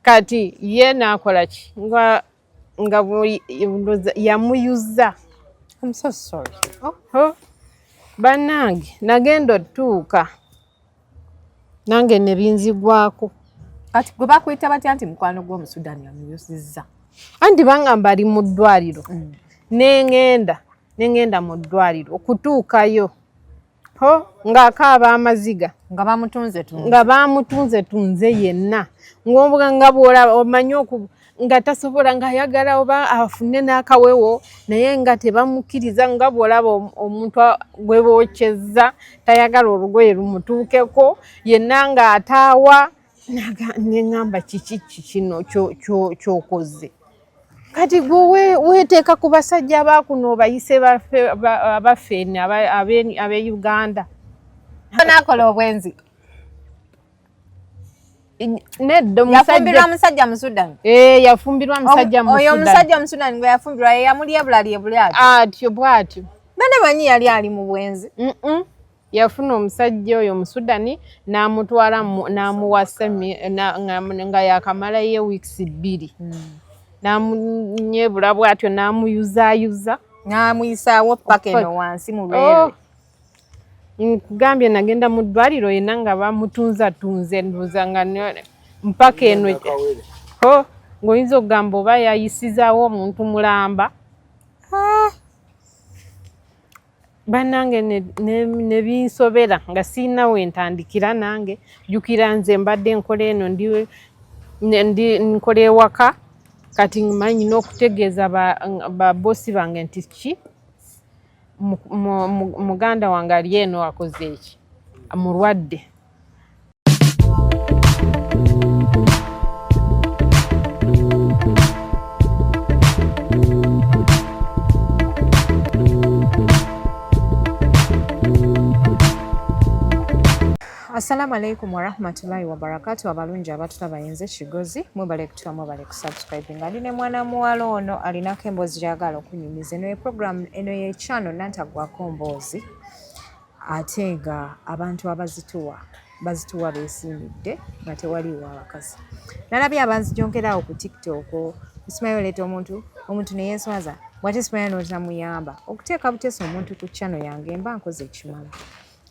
kati ye nakola ki nga nga yamuyuza I'm so sorry. Oh, oh. Banange nagenda otuuka nange nebinzigwako kati gwe bakuyita batya nti mukwano gw'omusudani amuyusizza anti bangamba ali mu ddwaliro mm. nengenda nengenda mu ddwaliro okutuukayo ho ng'akaaba amaziga nga bamutunze tunze nga bamutunze tunze yenna ng'obuga nga bw'olaba omanyi oku nga tasobola ng'ayagala oba afune n'akawewo naye nga tebamukkiriza nga bw'olaba omuntu gwe bookyezza tayagala olugoye lumutuukeko yenna ng'ataawa neŋamba kiki kikino kyokoze kati gwe weteeka ku basajja bakuno bayise abafeeni abe uganda nakola obwenzi nedyafumbirwa musajja musudan eh, yafumbirwa musajja oyo omusajja omusudan gwe yafumbirwa yeyamulyebulalyebuli atyo atyo bwatyo bane manyi yali ali mu bwenzi yafuna omusajja oyo omusudani n'amutwala n'amuwasa nga yakamalayo eweeks bbiri hmm. n'amunyebula bwatyo n'amuyuzayuza n'amuyisaawo paka eno wansi mu lwere oh. nkugambye nagenda mu ddwaliro yena nga bamutunzatunze nduuza nga mpaka eno oh, ng'oyinza okugamba oba yayisizaawo omuntu mulamba ah. banange nebinsobera ne, ne nga siina wentandikira nange jukira nze mbadde nkola eno ndi, ndi nkola ewaka kati manyi n'okutegeeza babosi ba bange nti ki muganda wange ali eno akoze eki mulwadde Assalamu alaikum warahmatullahi wabarakatu abalungi abatulaba yenze kigozi mwebale kutula mwebale kusubscribe nga ndi ne mwana muwala ono alinako emboozi gyagala okunyumiza eno ye program eno ye channel nantagwako mboozi ate nga abantu abazituwa bazituwa besiimidde nga tewaliwo abakazi nalabye abanzijonkeraawo ku tiktok osimayo oleeta omuntu omuntu neyeswaza bwate simanya notamuyamba okuteeka buteesa omuntu ku chano yange mba nkoze ekimala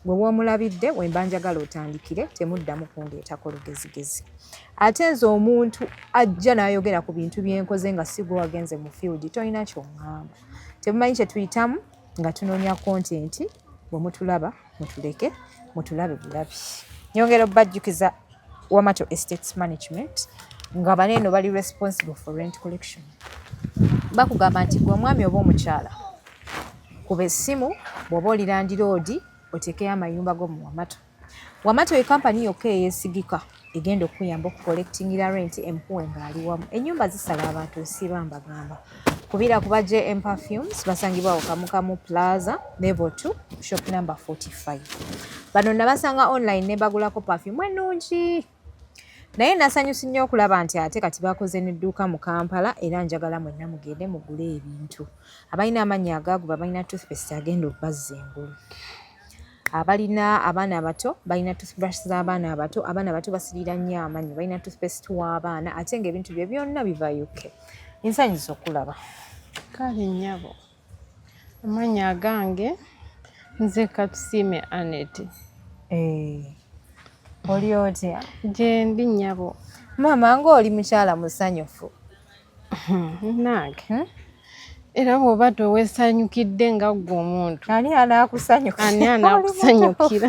gwe womulabidde wemba njagala otandikire temuddamu kundeetako lugezigezi ate nze omuntu ajja nayogera ku bintu byenkoze nga sigwe wagenze mu field tolina kyoŋamba temumanyi kyetuyitamu nga tunoonya kontenti bwe mutulaba mutuleke mutulabe bulabi nyongera obajjukiza wamato estates management nga baneeno bali responsible for rent collection bakugamba nti gwe omwami oba omukyala kuba essimu bw'oba olirandiroodi oteekeyo amayumba go mu wamato Wamatu ye kampani yokka eyeesigika egenda okukuyamba okukolekitingira renti empuwe ng'ali wamu ennyumba zisala abantu nsiiba mbagamba kubira kuba jm perfumes basangibwa okamukamu plaza level 2 shop number 45 bano nabasanga online ne bagulako perfume ennungi naye nasanyusi nnyo okulaba nti ate kati bakoze nedduuka mu kampala era njagala mwenna mugende mugule ebintu abalina amannya agaaguba balina toothpaste agenda okubazza engulu abalina abaana abato balina toothbrush z'abaana abato abaana abato basirira nnyo amanyi balina toothpaste w'abaana ate ng'ebintu bye byonna biva uk ensanyusa okulaba kale nnyabo Amannya agange nze Katusiime Aneti. Eh, oli otya? Gyendi nnyabo. Maama ng'oli mukyala musanyufu. Nange. Hmm? era bw'oba tewesanyukidde nga ggwe omuntu ani anaakusanyukira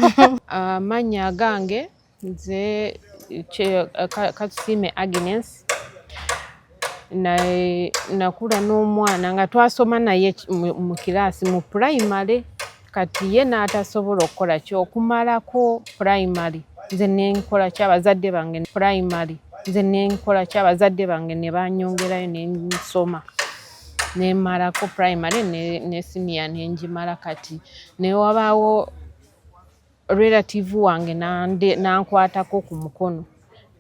amannya agange nze katusiime agnes nakula n'omwana nga twasoma naye mu kiraasi mu purayimale kati ye n'atasobola okukola ki okumalako purayimale nze nenkola ki abazadde bange purayimale nze nenkola ki abazadde bange ne banyongerayo ne nsoma nemalako primary ne siniya nengimala kati newabaawo relative wange nankwatako ku mukono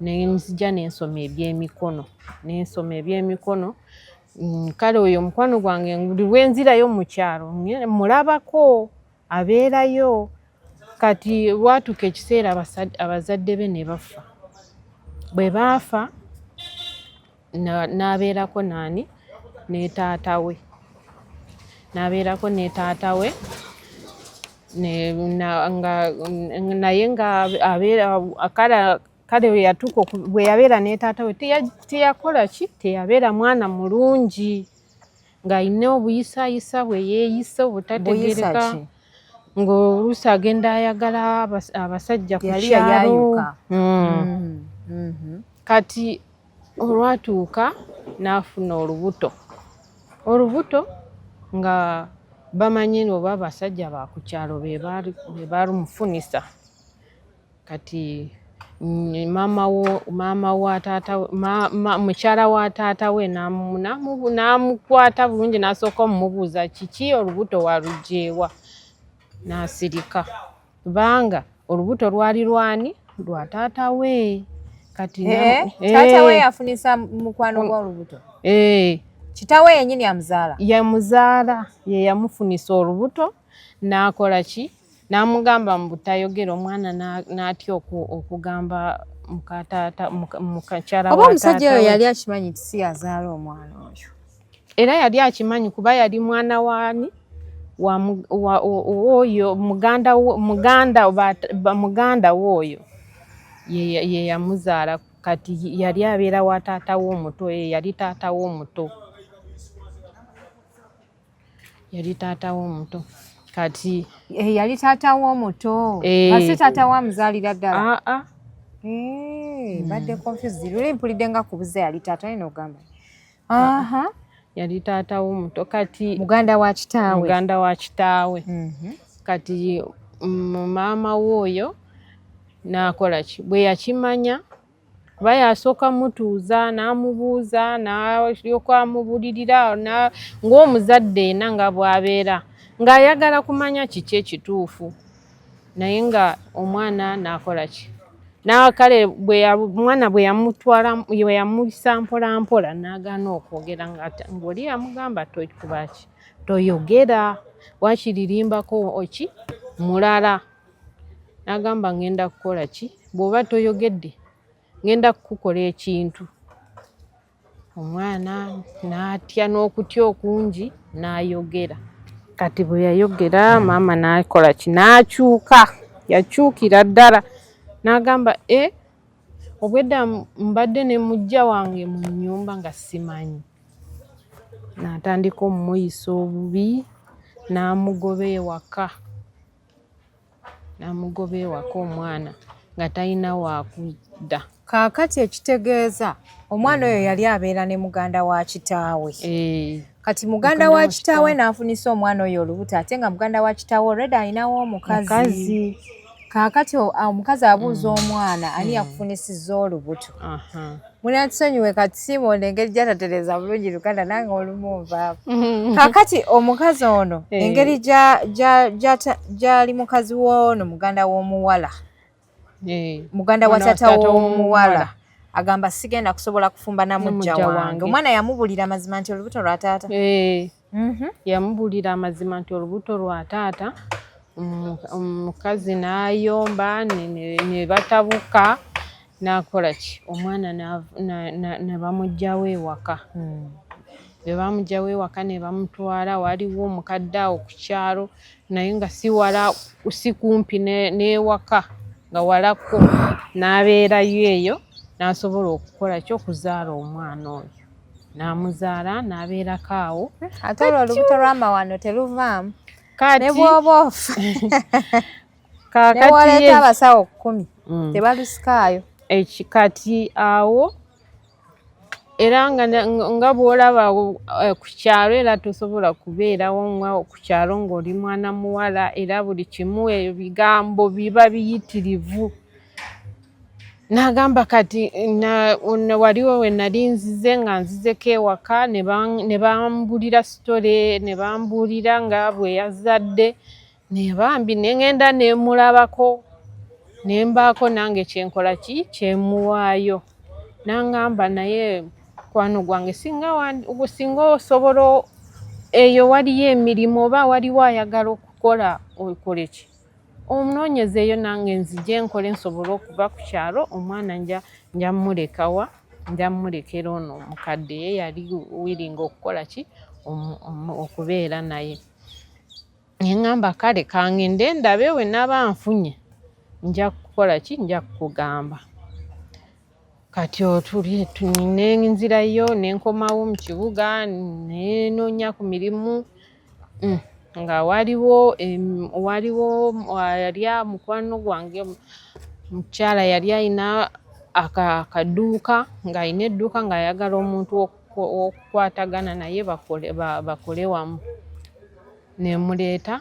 nenzija nensoma ebyemikono nensoma ebyemikono mm, kale oyo omukwano gwange buli lwenzirayo mukyalo mulabako abeerayo kati watuuka ekiseera abazadde be ne bafa bwe baafa n'abeerako naani ne taata we n'abeerako ne taata we naye nga abeera kale kale weyatuuka bwe yabeera ne taata we teyakola ki teyabeera mwana mulungi ng'alina obuyisayisa bwe yeeyisa obutategereka ng'oluusi agenda ayagala abasajja ku kyalo hmm. Hmm. Hmm. kati olwatuuka n'afuna olubuto olubuto nga bamanyi oba abasajja ba ku kyalo be baalumufunisa kati maama wa taata mukyala wa taata we n'amukwata bulungi n'asooka omumubuuza kiki olubuto walujeewa n'asirika Kubanga olubuto lwali lwani? Lwa taata we. Kati eh, eh. taata we yafunisa mukwano gwa olubuto. Eh. Kitawe yenyini amuzaala. Yamuzaala ye yamufunisa olubuto n'akola ki? N'amugamba mbu tayogera omwana n'atya okugamba muka taata muka kyala wa taata. Oba omusajja oyo yali akimanyi nti si yazaala omwana oyo. era yali akimanyi kuba yali mwana waani oyo muganda we oyo yeyamuzaala kati yali abeera wa taata we omuto ye yali taata we omuto yali taata we omuto kati eh, yali taata we omuto eh. asi taata we amuzaalira ddala aa ah, ah. eh, mbadde hmm. confused luli mpulidde nga kubuza yali taata naye nogamba aha yali taata womuto kati muganda wa kitaawe muganda wa kitaawe mm -hmm. kati mm, maama we oyo nakola ki bwe yakimanya kuba yasooka mutuuza n'amubuuza nalyoka amubulirira ng'omuzadde ena nga bwabeera ng'ayagala kumanya kiki ekituufu naye nga omwana nakola ki nakale omwana bwe yamutwala bwe yamuyisa mpola mpola nagaana okwogera ngaoli yamugamba tokubaki toyogera wakiririmbako oki mulala nagamba ngenda kukola ki bwoba toyogedde ngenda kukukola ekintu omwana n'atya n'okutya okungi n'ayogera kati bwe yayogera maama n'akola ki n'akyuka yakyukira ddala n'agamba e obwedda mbadde ne mujja wange mu nnyumba nga simanyi n'atandika omumuyisa obubi n'amugoba ewaka namugoba ewaka omwana nga talina wakudda kaakati ekitegeeza omwana oyo yali abeera ne muganda wa kitaawe eh. kati muganda wa kitaawe n'afunisa omwana oyo olubuto ate nga muganda wa kitaawe olredi alinawo omukazi kaakati omukazi abuuza mm. omwana ani mm. yakufunisiza olubuto munatusonyiwe kati simonde engeri gyatatereza bulungi luganda nange olumu nvaavu mm-hmm. kakati omukazi ono eh. engeri gyali mukazi woono muganda w'omuwala eh. muganda wa tata w'omuwala agamba sigenda kusobola kufumba namujja wange omwana yamubulira mazima nti olubuto lwa taata eh. Mhm. Yamubulira amazima nti olubuto lwa taata omukazi n'ayomba ne batabuka n'akola ki omwana ne bamugyawo ewaka hmm. bwe bamugyawo ewaka ne bamutwala waliwo omukadde awo ku kyalo naye nga si wala si kumpi n'ewaka nga walako n'abeerayo eyo n'asobola okukola ki okuzaala omwana oyo n'amuzaala n'abeerako awo ate olwo olubuto lw'amawano teluvaamu ne bwoba ofa newaleeta abasawo kkumi mm. tebalusikaayo kati awo era nga bwolaba eh, ku kyalo era tosobola kubeerawo nga ku kyalo ng'oli mwana muwala era buli kimu ebigambo biba biyitirivu n'agamba kati waliwo we nali nzize nga nzizeko ewaka ne bambulira sitole ne bambuulira nga bwe yazadde naye bambi ne ngenda ne mulabako ne mbaako nange kyenkola ki kyemuwaayo nangamba naye mukwano gwange singa osobola eyo waliyo emirimu oba waliwo ayagala okukola okoleki omunoonyeze eyo nange nzije nkole nsobole okuva ku kyalo omwana nja nja mmulekawa nja mmulekera ono omukadde ye yali wiringa okukola ki okubeera naye ne ŋŋamba kale kangende ndabe we naba nfunye nja kukola ki nja kukugamba kati otuli nenzirayo nenkomawo mu kibuga nenoonya ku mirimu mm, nga waliwo waliwo yali mukwano gwange mukyala yali alina akaduuka ng'alina edduuka ng'ayagala omuntu okukwatagana naye bakole wamu nemuleeta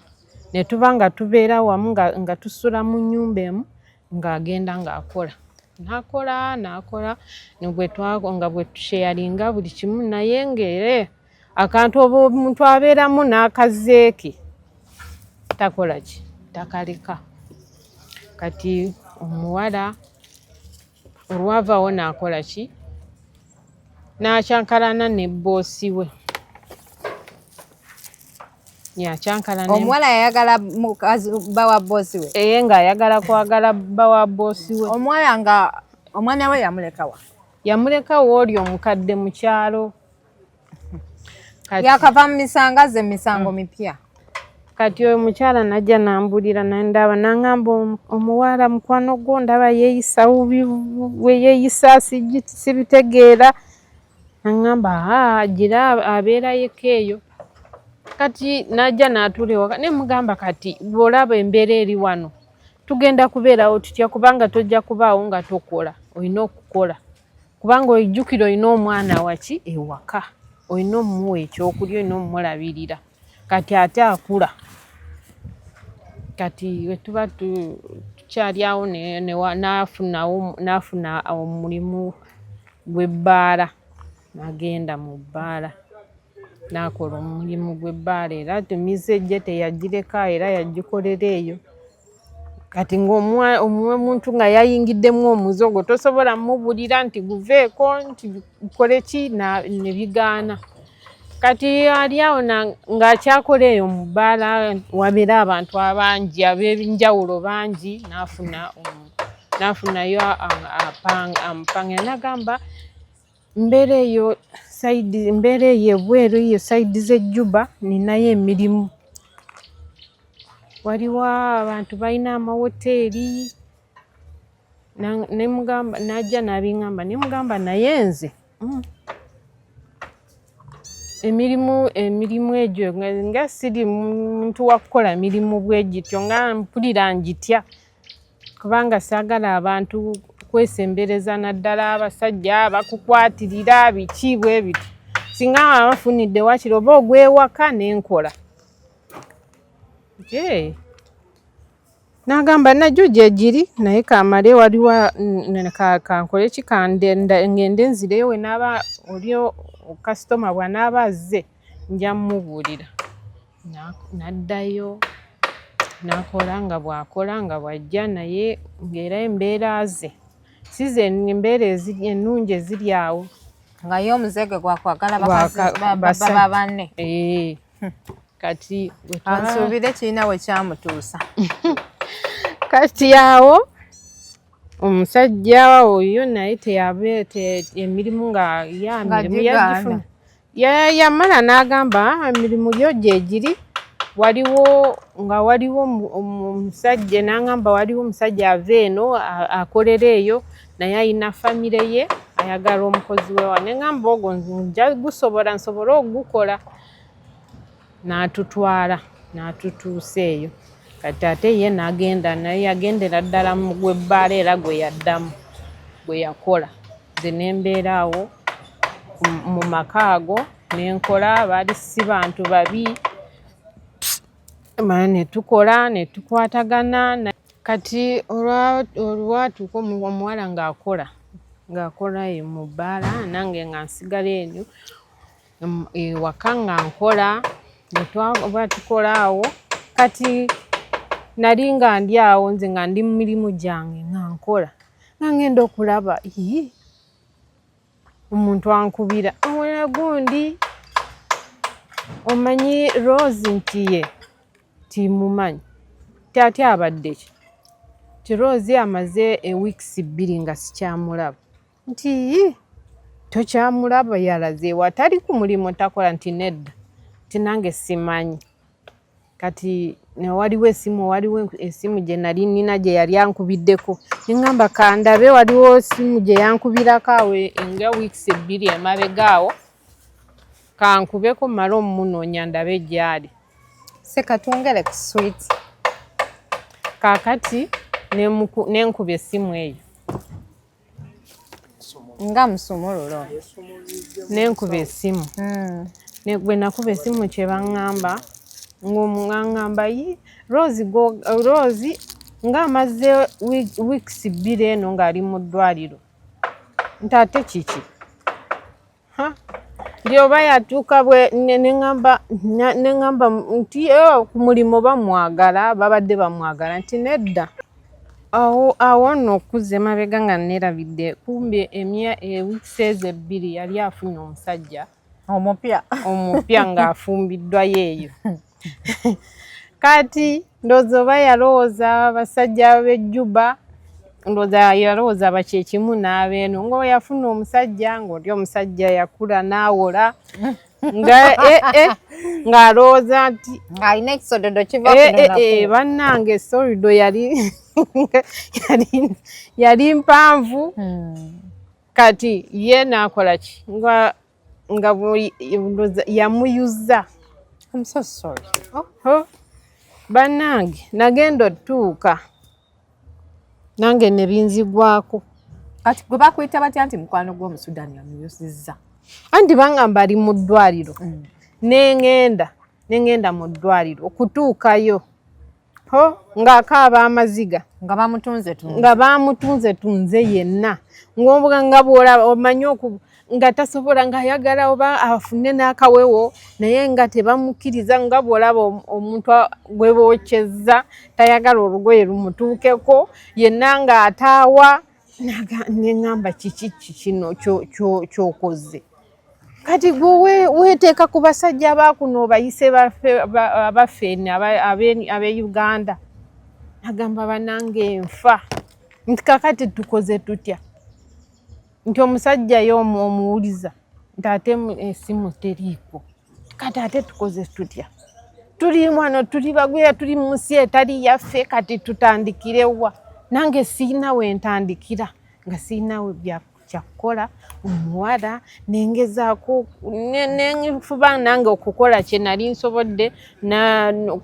netuba nga tubeera wamu nga tusula mu nyumba emu ng'agenda ng'akola nakola nakola negwetwago nga bwetusheyalinga buli kimu naye ngaere akantu oba omuntu abeeramu n'akazeeke takola ki takaleka kati omuwala olwavawo nakola ki n'akyankalana ne bboosi we yakyankalana omuwala yayagala mukazi bba wa bboosi we eye ng'ayagala kwagala bba wa bboosi we omuwala nga omwana we yamulekawa yamulekawo oli omukadde mu kyalo yakava mu misango aze misango mm. mipya kati oyo mukyala najja nambulira nandaba nangamba omuwala mukwano gwo ndaba yeyisa weyeyisa sibitegeera nangamba gira abeera yeka eyo kati najja natuula ewaka ne mugamba kati bwolaba embeera eri wano tugenda kubeerawo tutya kubanga tojja kubaawo nga tokola olina okukola kubanga ojjukira olina omwana waki ewaka olina omumuwa ekyokulya olina omumulabirira kati ate akula kati wetuba tukyalyawo nafuna omulimu gwebbaala nagenda mu bbaala nakola omulimu gwebbaala era tumize je teyagireka era yagikolera eyo kati ngaomuntu nga yayingiddemu omuze ogwo tosobola mubulira nti guveeko nti kole ki nebigaana kati ali awo ngaakyakola eyo mu bbaala wabeera abantu abangi abenjawulo bangi nafuna nafunayo amupange nagamba mbeera eyo saidi mbeera eyo ebweru eyo saidi z'ejjuba ninayo emirimu waliwo abantu balina amawoteeri nemugamba najja nabingamba nemugamba naye nze mm. emirimu emirimu egyo nga siri muntu wakukola mirimu bwegityo nga mpulira ngitya kubanga saagala abantu kwesembereza naddala abasajja bakukwatirira biki bwe biti singa abafunidde wakiri oba ogwewaka nenkola nagamba najo gyegiri naye kamale waliwo kankole ki ngende nzireyo wenaaba oli kasitoma bwanaaba azze nja mumubuulira n'addayo n'akola nga bw'akola nga bw'ajja naye ng'era embeera ze si ze embeera ennungi eziri awo nga ye omuze gwe gwakwagala baba banne eh, hmm. kati ansuubire kirina we kyamutuusa kati awo omusajja oyo naye teyabe emirimu nga ya mirimu yagifuna yamala n'agamba emirimu gyo gyegiri waliwo nga waliwo omusajja n'agamba waliwo omusajja ava eno akolera eyo naye alina famire ye ayagala omukozi wewa ne ngamba ogwo nja gusobola nsobole ogukola n'atutwala n'atutuusa eyo kati ate ye nagenda naye yagendera ddala mu gwebbaala era gwe yaddamu gwe yakola nze ne mbeera awo mu maka ago ne nkola baali si bantu babi mala ne tukola ne tukwatagana kati olwatuuka omuwala ng'akola ng'akola mu bbaala nange nga nsigala enyo ewaka nga nkola bwetwaba tukola awo kati nali nga ndi awo nze nga ndi mu mirimu gyange nga nkola nga ngenda okulaba ii omuntu ankubira omulala gundi omanyi rose nti ye timumanyi tyati abadde ki ti rose amaze eweeks bbiri nga sikyamulaba nti tokyamulaba yalaze watali ku mulimu takola nti nedda nti nange simanyi kati newaliwo esimu waliwo esimu gye nali nina gye yali ankubiddeko neŋamba kandabe waliwo esimu gye yankubirako awo nga weeks ebbiri emabega awo kankubeko male omunoonya ndabe gyali sekatwongere ku swit kakati nenkuba esimu eyo nga musumululo nenkuba esimu hmm. bwe nakuba esimu kyebaŋŋamba ng'omuŋaŋŋamba yi rose rose ng'amaze weeks bbiri eno ng'ali mu ddwaliro nti ate kiki ndio bayatuuka bwe neŋamba neŋamba nti eh, ku mulimu bamwagala babadde bamwagala nti nedda awo awo nno okuzza emabega nga neerabidde kumbe emya ewiks eh, ezo ebbiri yali afunye omusajja omupya omupya ng'afumbiddwa yeeyo kati ndowooza oba yalowooza abasajja bejjuba ndowooza yalowooza bakyekimu n'abeeno ngaoba yafuna omusajja ng'oli omusajja yakula n'awola nga eh, eh, ng'alowooza nti alina ekisododo kiva eh, bannange esolido yali yali mpanvu hmm. kati ye naakola ki nga nga yamuyuza banange nagenda otuuka nange nebinzigwako kati gwe bakuyita batya nti mukwano gwomusudani yamuyusiza anti bangamba ali mu ddwaliro mm. nengenda nengenda mu ddwaliro okutuukayo ho ng'akaaba amaziga nga bamutunze tunze nga bamutunze tunze yenna ng'obuga nga bw'olaba omanyi oku nga tasobola ng'ayagala oba afune n'akawewo naye nga tebamukkiriza nga bw'olaba omuntu gwe bookyezza tayagala olugoye lumutuukeko yenna ng'ataawa neŋŋamba kiki kikino ky'okoze kati gwe weteeka ku basajja bakuno bayise abafeni abe uganda agamba banange enfa nti kakati tukoze tutya nti omusajja yo omuwuliza nti ate esimu teriiko kati ate tukoze tutya tuli wano tuli bagwira tuli mu nsi etali yaffe kati tutandikirewa nange siina wentandikira nga siina we byakku kyakukola omuwala nengezaako nenfuba nange okukola kye nali nsobodde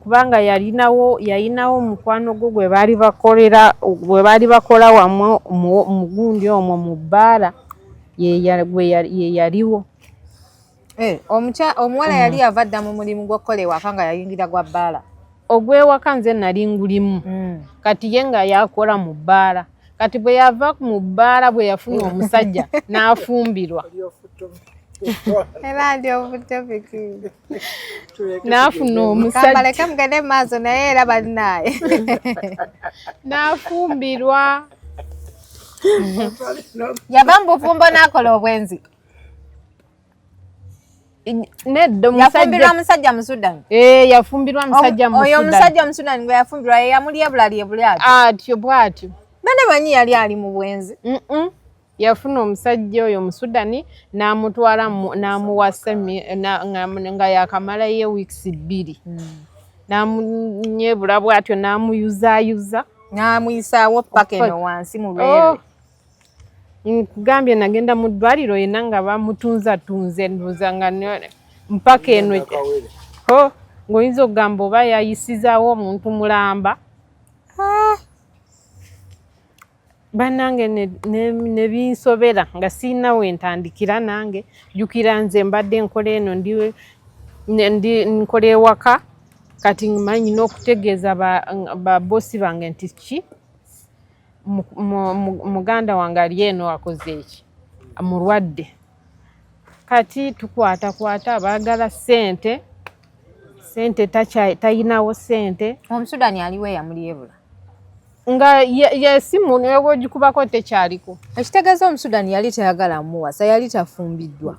kubanga yalinawo yalinawo omukwano gwo gwe baali bakolera gwe baali bakola wamu mugundi omwo mu bbaala yeyaliwo Eh, omuwala yali mm. ava dda mu mulimu gw'okukola ewaka nga yayingira gwa bbaala ogw'ewaka nze nali ngulimu mm. kati ye nga yakola mu bbaala kati bwe yava mu bbaala bwe yafuna omusajja n'afumbirwa n'afuna omusajja mugende maaso naye era balinaye n'afumbirwa yava mu bufumbo n'akola obwenzi nedda yafumbirwa musajja musudan eh, yafumbirwa musajja musudan oyo omusajja musudan gwe yafumbirwa yeyamulyebula lyebule atyo atyo bwatyo bane manyi yali ali mu bwenzi yafuna omusajja oyo omusudani n'amutwala n'amuwasa nga yakamalayo ewiikisi bbiri hmm. n'amunyebula bwatyo n'amuyuzaayuza n'amuyisaawo paka eno wansi mu lwere oh. nkugambye nagenda mu ddwaliro yena nga bamutunza tunze nduza nga mpaka eno ho ng'oyinza okugamba oba yayisizaawo omuntu mulamba ah! banange nebinsobera nga siina wentandikira nange jukira nze mbadde nkola eno ndi nkola ewaka kati manyi n'okutegeeza babosi bange nti ki muganda wange ali eno akoze eki mulwadde kati tukwatakwata baagala sente sente tayinawo sente omusudani aliwo eyamulyebula nga yesimu neweba ogikubako tekyaliko ekitegeeza omusudani yali tayagala muwasa yali tafumbiddwa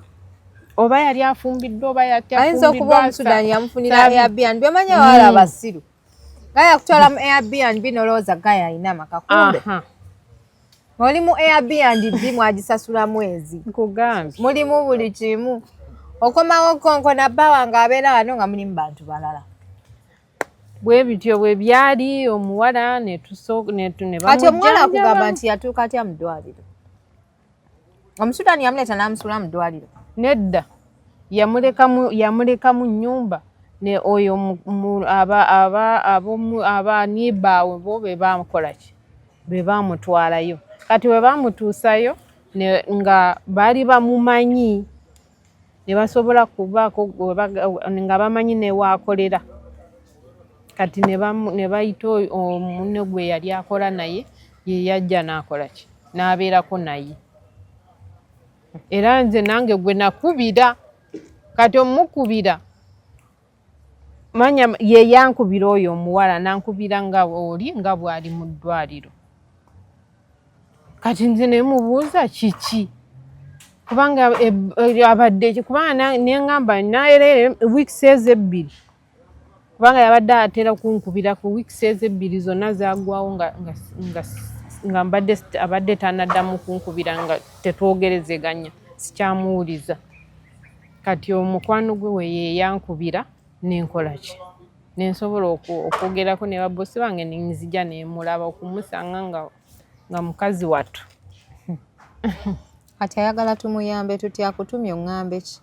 oba yali afumbiddwa oba yatayinza okuba omusudani yamufunira airbnb omanya wala abasiru Gaya kutwala mu Airbnb nolowooza gaya alina amaka kumbe. Oli mu Airbnb mwagisasula mwezi. Nkugambye. Mulimu buli kimu. Okomawo konko na bba wange abeera wano nga mulimu bantu balala. Bwe bityo bwe byali omuwala ne tusooka ne ne bamujjanja. Kati omuwala akugamba nti yatuuka atya mu ddwaliro? Omusudani yamuleeta n'amusuula mu ddwaliro? Nedda, yamulekamu yamulekamu nnyumba ne oyo abaniibaawe bo be baamukola ki be baamutwalayo kati bwe baamutuusayo nga baali bamumanyi ne basobola kubaako nga bamanyi newaakolera kati ne bayita omunne gwe yali akola naye ye yajja n'akola ki n'abeerako naye era nze nange gwe nakubira kati omukubira manya ye yankubira oyo omuwala nankubira nga oli nga bwali mu ddwaliro kati nze nemubuuza kiki kubanga e, e, abadde kubanga nengamba naerere weeks ezi ebbiri kubanga yabadde atera kunkubira ku weeks ezi ebbiri zonna zagwawo nga, nga, nga nga mbadde abadde tanaddamu kunkubira nga tetwogerezeganya sikyamuwuliza kati omukwano gwe weyeyankubira nenkolaki nensobola okwogerako ne babosi bange nenzija nemulaba okumusanga nga nga mukazi wattu kati ayagala tumuyambe tuti akutumye oŋambe ki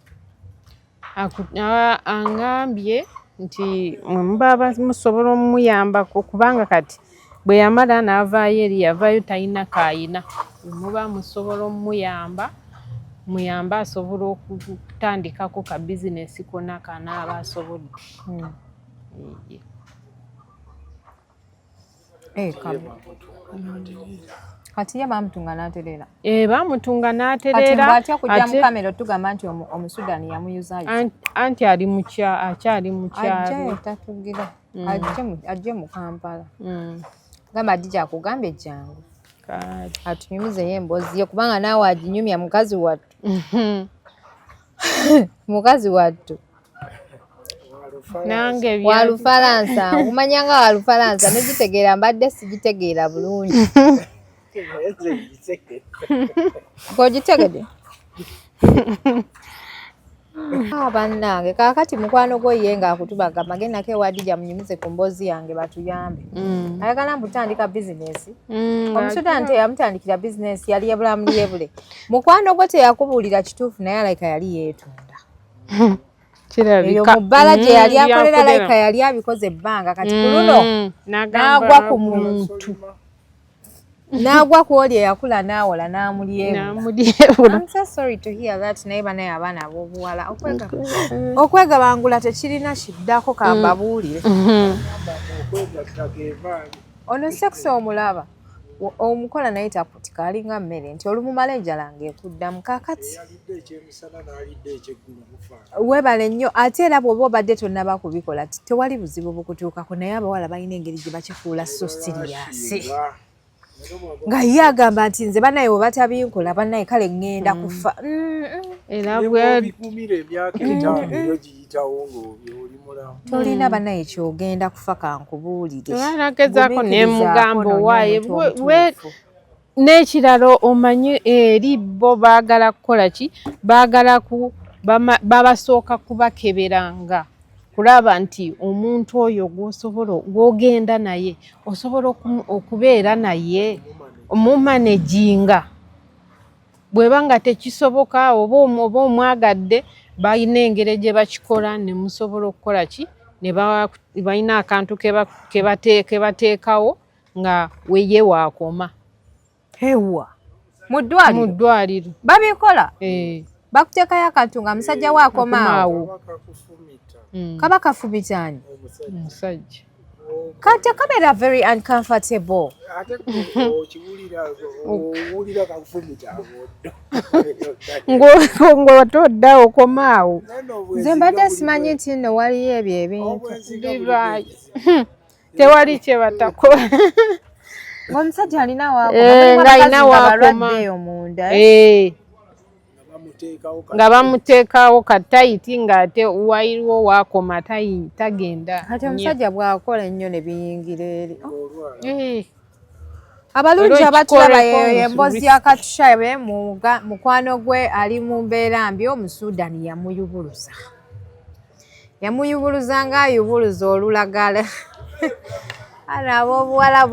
angambye nti mwemuba musobola omuyambako kubanga kati Bwe yamala n'avaayo eri yavaayo talina k'alina muba musobola omuyamba muyambe asobola okutandikako ka bizinesi kona kanaaba asobodde hmm. eh, kati ye bamutunga natereera eh, bamutunga natereeraatya kujja mukamera otugamba nti omusudani yamuyuzayo anti ali akyali mukyalo mm. ajje mu kampala mm. gamba adija akugambye jangu atunyumizeyo emboozi ye kubanga naawe aginyumya mukazi wattu mukazi wattu walufalansa kumanya nga walufalansa negitegeera mbadde sigitegeera bulungi kogitegede ah, bannange kakati mukwano gwo ye nga akutubaga mage nako ewadija munyumize ku mboozi yange batuyambe mm. ayagala mbutandika bizinesi mm, omusudani teyamutandikira bizinesi yali yebulamu yebule mukwano gwo teyakubuulira kituufu naye alaika yali yeetunda eyo mu bbala gye mm, yali akolera alaika yali abikoze ebbanga kati ku luno n'agwa ku muntu n'agwa ku oli eyakula n'awola n'amulyebulaamsasrytoheartnaye banaye abaana ab'obuwala okwegabangula tekirina kiddako kambabuulire mm. mm-hmm. ono sekisi omulaba omukola naye takutika alinga mmere nti olumumala enjala ng'ekuddamu kakati webale nnyo ate era bwoba obadde tonaba kubikola tewali buzibu bukutuukako naye abawala balina engeri gye bakifuula so siriyasi nga ye agamba nti nze banaye webatabinkola banaye kale ŋŋenda mm. kufa tolina banaye kyogenda kufa kankubuulire n'ekirala omanyi eri bo baagala kukola ki baagala ku babasooka kubakeberanga kulaba nti omuntu oyo gwosobola gwogenda naye osobola okubeera naye omumanejinga bweba nga tekisoboka oba oba omwagadde balina engeri gye bakikola ne musobola okukola ki ne balina akantu ke bateekawo nga weye wakoma ewa mu ddwaliro mu ddwaliro babikola eh. bakuteekayo akantu nga musajja we akomaawo hmm. kaba kafubitani musajja kati akabeera very uncomfortable ng'ote odda okomaawo nze mbadde simanyi nti nno waliyo ebyo ebintu tewali kyebatako omusajja alina wakomaayina eh, wakomabalwadde omunda eh? eh. nga bamuteekawo katayiti ng'ate wairiwo waakoma tagenda kati omusajja bw'akola ennyo ne biyingira eri abalungi abatulaba yeyo yemboozi ya katushabe mukwano gwe ali mu mbeera mbi omusudan yamuyubuluza yamuyubuluza nga ayubuluza olulagala ana abobuwala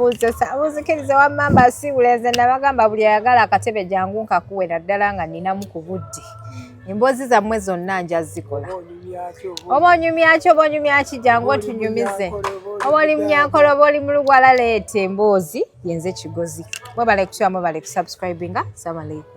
buzikiriza wamamba sibulenze nabagamba buli ayagala akatebe jangu nkakuwe naddala nga ninamu ku budde emboozi zammwe zonna nja zikola oba onyumyaki oba onyumyaki jangu otunyumize oba oli munyankolo oba oli mulugwala leeta emboozi yenze kigozi mwebale kutyamu bale kusubscribinga samalaikum